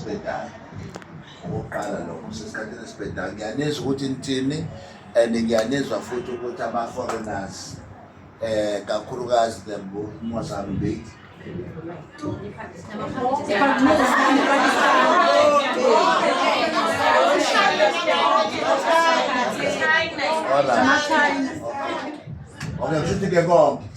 sibhedayo okokuqala lokho sesikhathini esibhedayo ngiyanizwa ukuthi nithini and ngiyanizwa futhi ukuthi ama-foreigners eh kakhulukazi the Mozambique All right. Okay, kusho ukuthi ke konke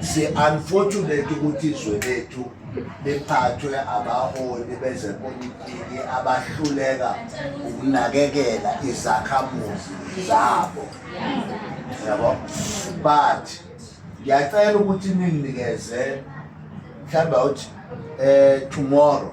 si unfortunate ukuthi izwe lethu liphathwe abaholi bezepolitiki abahluleka ukunakekela izakhamuzi zabo yabo but ngiyacela ukuthi ninginikeze mhlawumbe uthi um eh, tomorrow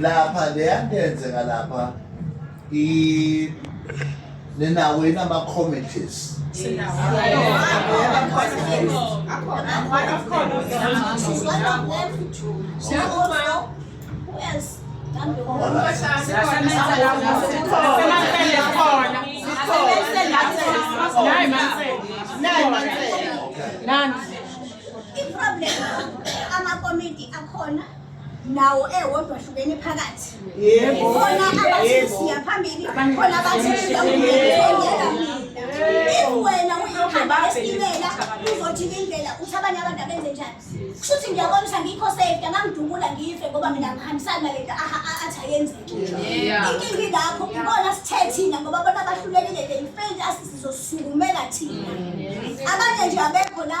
lapha leya nto yenzeka lapha i ninawo yini ama-committees iproblem amakomiti akhona nawo ewodwa ahlukene phakathi khona abathi siya phambili khona abathi siyawuyekela if wena uyikhamba esitimela uzothi indlela uthi abanye abantu abenze njani kusho ukuthi ngiyabona ukuthi angikho safety angangidubula ngife ngoba mina ngihambisani nale nto athi ayenzeki inkinga ingakho ibona sithe thina ngoba bona bahlulekile they failed us sizosukumela thina abanye nje abekho la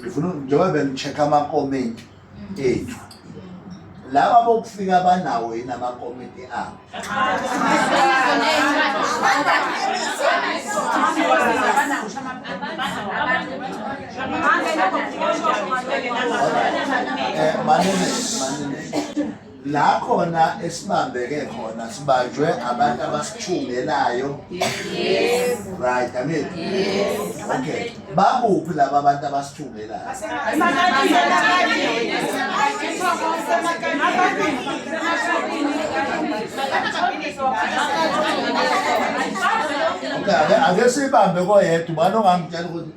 ngifuna njengoba bengi-check-a amakomenti ethu laba bokufika banawo yini amakomenti abo Eh, manene manene la khona esibambeke khona sibanjwe abantu abasithungelayo yes right i mean yes okay babuphi laba abantu abasithungelayo okay ake sibambe koyedwa ubani ongamtshela ukuthi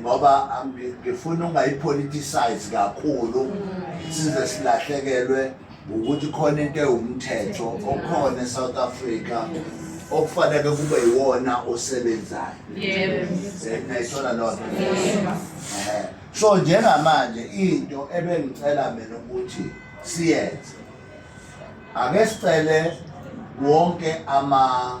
ngoba ngifuna ungayipoliticize kakhulu size silahlekelwe ukuthi khona into ewumthetho okhona eSouth Africa okufanele kube yiwona osebenzayo nayithola loo nto so njengamanje into ebengicela mina ukuthi siyenze ake sicele wonke ama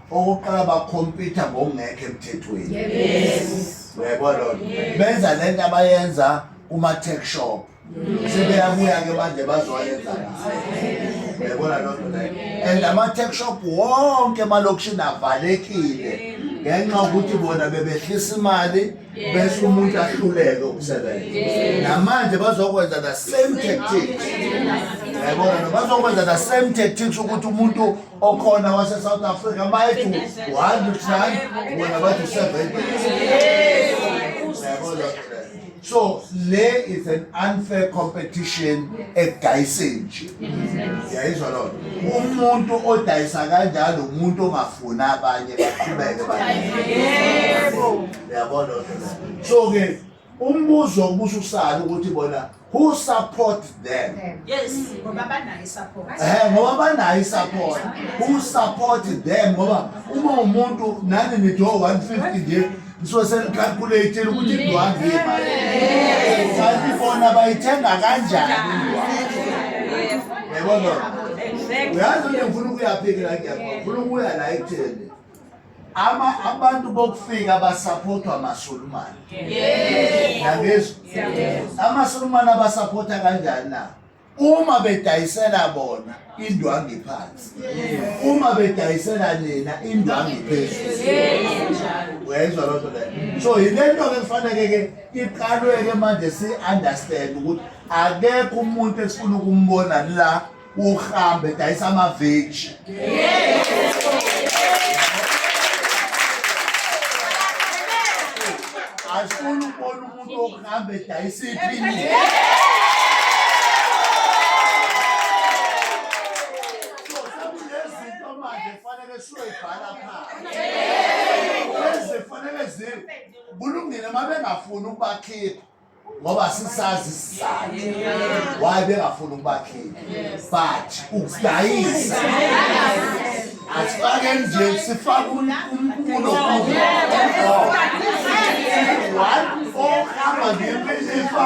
Okokuqala bakhompyutha ngokungekho emthethweni. Yes. Uyayibona lona. Benza lento abayenza kuma tech shop. Mm. Sebeyabuya ke manje bazoyenza la. Uyayibona lona leyo. And ama tech shop wonke emalokishini avalekile ngenxa ukuthi bona bebehlisa imali bese umuntu ahluleke ukusebenza namanje bazokwenza the same tactics yabona bazokwenza the same tactics ukuthi umuntu okhona wase South Africa mayethi 1 to 10 wena bathi 7 so le is an unfair competition edayiseni nje yayizwa loo nto umuntu odayisa kanjalo umuntu ongafuni abanye baqhubeke yabo loo nto so-ke Umbuzo ubuza usala ukuthi bona who support them? Yes, ngoba banayo support. Eh, ngoba banayo support. Who support them? Ngoba uma umuntu nani nido 150 nje nisuke senicalculate ukuthi indwangu imali. Kanti bona bayithenga kanjani indwangu? Yabona. Uyazi ukuthi ngifuna ukuyaphikela ngiyabona. Ngifuna ukuya la ekutheni. ama abantu bokufika basaphothwa amaSulumane yangizwa amaSulumane abasaphotha kanjani na uma bedayisela bona indwangi phansi uma bedayisela nina indwangi phezulu uyayizwa loo nto leyo so yile nto ke kufaneke ke iqalwe ke manje si-understand ukuthi akekho umuntu esifuna ukumbona la uhambe dayisa amaveji asifuni ukubona umuntu okuhamba edayisa iphini sekunezinto manje fanele siyoyibhala phansi ezifanele zi kulungile uma bengafuni ukubakhipha ngoba sisazi isizathu why bengafuni ukubakhipha but ukudayisa asifake nje sifake umkhulu ohamba ngephesifa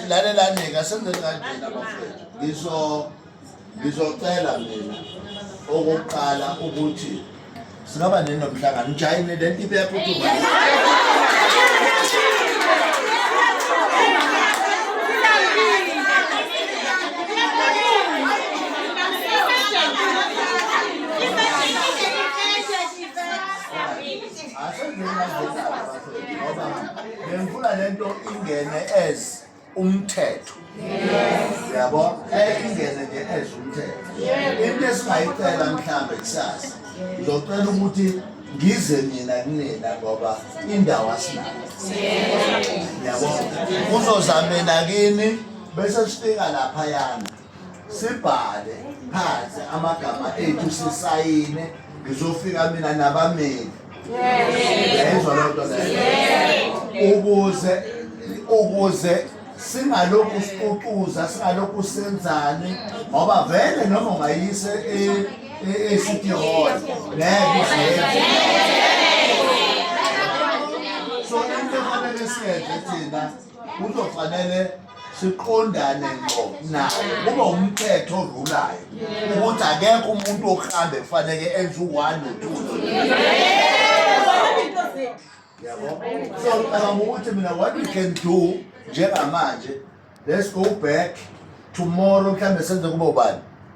lalelani-ke asenze kanjena bafethu ngizo ngizocela mina okokuqala ukuthi singaba nini nomhlangano ujayini le nto ibeyaphuthuka ngifuna lento ingene as umthetho yabo ngeke ingene nje as umthetho into esingayicela mhlawumbe kusasa ngizocela ukuthi ngize mina kunina ngoba indawo asinayo yabo uzozamela kini bese sifika laphayana sibhale phansi amagama ethu sisayine ngizofika mina nabameli yayizwa loo nto leyo ukuze ukuze singalokhu siququza singalokhu senzani ngoba vele noma ungayise e-city hall ngeke so into efanele siyenze thina kuzofanele siqondane ngqo naye kube umthetho orulayo ukuthi akekho umuntu okuhambe kufaneke enze u-one no-two yabo so ngicabanga ukuthi mina what we can do njengamanje let's go back tomorrow mhlawumbe senze kube ubani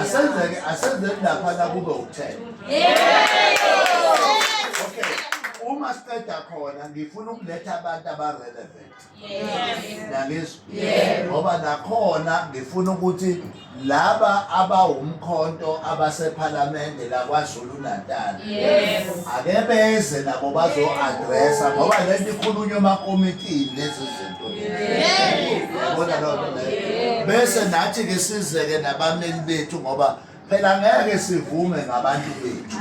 asenzeke asenzeke lapha nakube ukuthela okay uma siqeda khona ngifuna ukuletha abantu abarelevant nangizwa ngoba nakhona ngifuna ukuthi laba abawumkhonto abasephalamende lakwazulu natal yes. ake beze nabo bazo-adressa ngoba le nto ikhulunywa emakomitini lezi zinto yabona loo nto leyo bese nathi-ke sizeke nabameli bethu ngoba phela ngeke sivume ngabantu bethu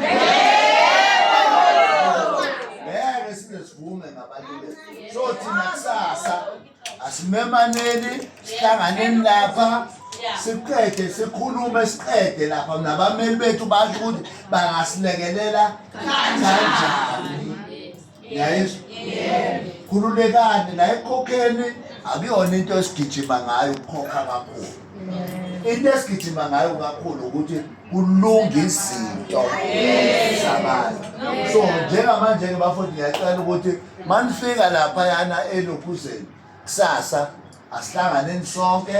ngeke size sivume ngabantu bethu so thina kusasa asimemaneni sihlanganeni lapha siqede sikhulume siqede lapha nabameli bethu basho ukuthi bangasilekelela kanjani yayizwa khululekani la ekhokheni akuyona into esigijima ngayo ukukhokha kakhulu into esigijima ngayo kakhulu ukuthi kulunga izinto zabantu so njengamanje-ke bafowethu ngiyacela ukuthi manifika lapha yana elokhuzeni kusasa asihlanganeni sonke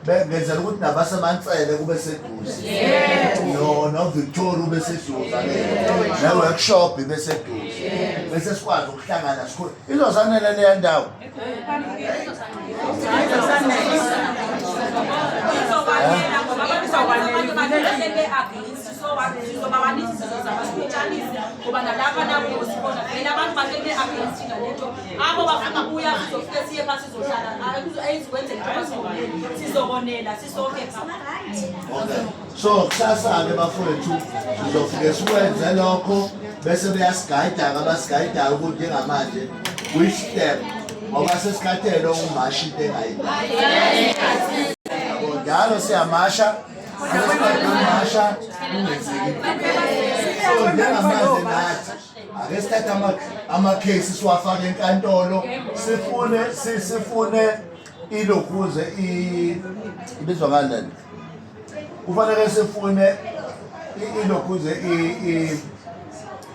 bengenzela ukuthi nabasemantsele kube seduze no novictoria ube seduze ne-workshop ibe seduze bese sikwazi ukuhlangana sikhulu izozanele leya ndawo so kusasa-ke bafowethu sizofike sikwenze lokho bese beyasigayida-ke abasigayidayo ukuthi njengamanje which step ngoba sesikhathele umashi into engayi njalo siyamasha amasha kungenzeki so njengamanje nathi ake sithathe amakhesi siwafake enkantolo sifune sifune ilokuze ibizwa ngani lento kufanele sifune ilokuze